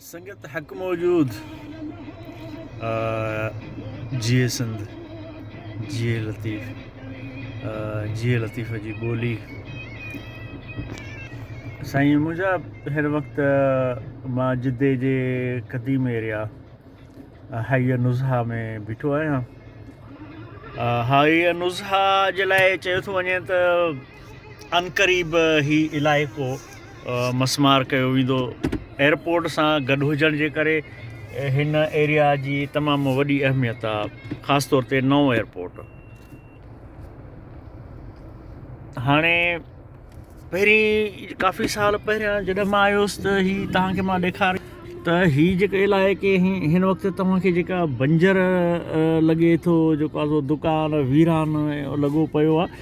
سنگت حق موجود جيئي سنڌ جيئي لطيف جيئي لطيف جي ٻولي سائين منهنجا هر وقت مان جدي جي قديم ايريا هائي نزها ۾ بيٺو آهيان هائي نزها جي لاء چيو ٿو وڃي ته عنقريب هي علائقو مسمار ڪيو ويندو. ايئرپورٽ سان گڏ هجڻ جي ڪري هن ايريا جي تمام وڏي اهميت آ خاص طور تي نئون ايئرپورٽ هاڻي پهرين ڪافي سال پهريان جڏهن مان آيو هوس ته هي توهان کي مان ڏيکار ته هي جيڪا علائقي هن وقت توهان کي جيڪا بنجر لڳي ٿو جيڪو آزو دڪان ويران لڳو پيو آ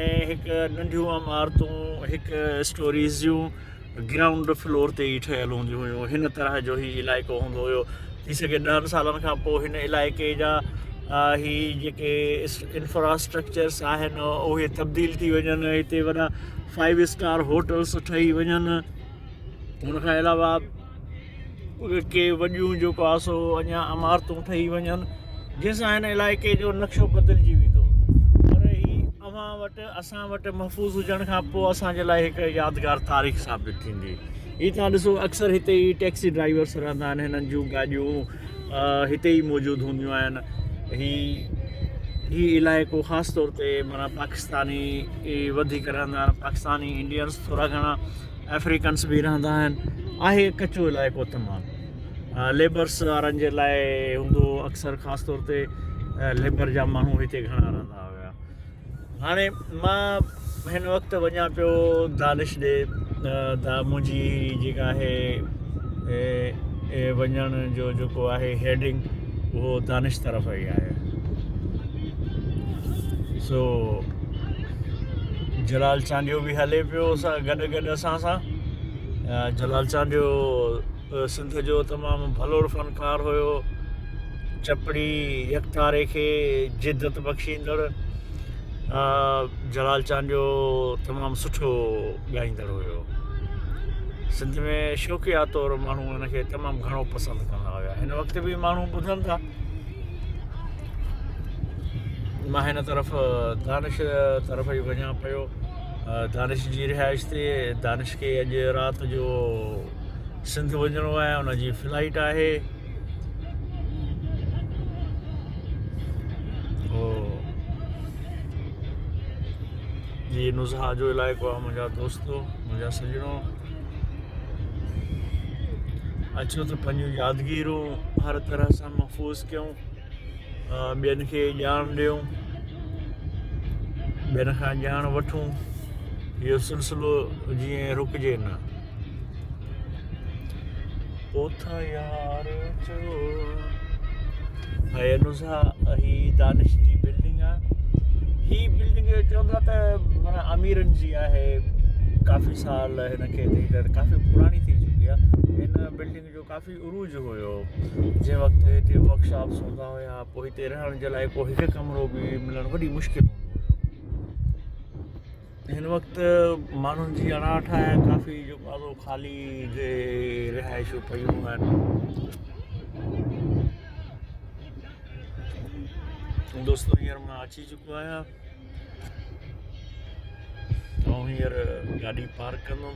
۽ هڪ ننڍيون عمارتون هڪ اسٽوريز جون گرائونڊ فلور تي ئي ٺهيل هونديون هيون هن طرح جو هي علائقو هوندو هيو ٿي سگهي ڏهن سالن کان پوء هن علائقي جا هي جيڪي انفراسٽرڪچرس آهن اهي تبديل ٿي وڃن هتي وڏا فائيو اسٽار هوٽلس ٺهي وڃن هن کان علاوه ڪي وڏيون جو ڪاسو اڃا عمارتون ٺهي وڃن جنهن سان هن علائقي جو نقشو بدلجي ويندو پر هي اوهان وٽ اسان وٽ محفوظ هجڻ کان پوء اسانجي لاء هڪ يادگار تاريخ ثابت ٿيندي هي تان ڏسو اڪثر هتي ئي ٽيڪسي ڊرائيورس رهندا آهن هنن جون گاڏيون هتي ئي موجود هونديون آهن هي هي علائقو خاص طور تي مانا پاڪستاني وڌيڪ رهندا آهن پاڪستاني انڊينس ٿورا گهڻا افريڪنس به رهندا آهن آهي ڪچو علائقو تمام ليبرس وارن جي لاء هوندو اڪثر خاص طور تي ليبر جا ماڻهو هتي گهڻا رهندا هيا هاڻي مان هن وقت وڃا پيو دانش ڏي دا منهنجي جيڪا آهي وڃڻ جو جيڪو آهي هيڊنگ اهو دانش طرف ئي آهي. سو جلال چانڊيو به هلي پيو سان گڏ گڏ اسان سان جلال چانڊيو سنڌ جو تمام ڀلوڙ فنڪار هيو چپڙي يڪتاري کي جدت بخشيندڙ جلال چانڊيو تمام سٺو ڳائيندڙ هيو سنڌ ۾ شوقيا طور ماڻهو هن کي تمام گهڻو پسند ڪندا هيا هن وقت به ماڻهو ٻڌن ٿا مان هن طرف دانش طرف ئي وڃان پيو دانش جي رهائش تي دانش کي اڄ رات جو سنڌ وڃڻو آهي ان جي فلائيٽ آهي جي نزها جو علائقو آ منهنجا دوستو منهنجا سڄڻو اچو ته پنهنجون يادگيرون هر طرح سان محفوظ ڪيون ٻين کي ڄاڻ ڏيون، ٻين کان ڄاڻ وٺون، اهو سلسلو جيئن رڪجي نه. اوٿ يار جو هيء نزهه هي دانش جي بلڊنگ آ هي بلڊنگ چوندا ته معنيٰ اميرن جي آهي ڪافي سال هن کي ڏئي ڪافي پراڻي ٿي چڪي آ هن بلڊنگ جو ڪافي عروج هيو جنهن وقت هتي ورڪ شاپس هوندا هيا پوء هتي رهڻ جي لاء ڪو هڪ ڪمرو به ملڻ وڏي مشڪل هوندو هيو هن وقت ماڻهن جي اڻاٺ آهي ڪافي جو ڪارو خالي جي رهائشون پيون آهن دوستو هينئر مان اچي چڪو آهيان آئون هينئر گاڏي پارڪ ڪندم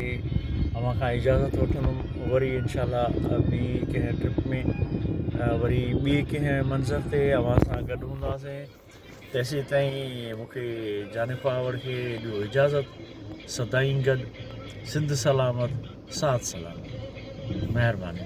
۽ اوهان کان اجازت وٺندم وري انشاء الله ٻي ڪنهن ٽرپ ۾ وري ٻي ڪنهن منظر تي اوهان سان گڏ هونداسين تيسين تائين مونکي جاني پاور کي ڏيو اجازت سدائين گڏ سنڌ سلامت ساٿ سلامت مهرباني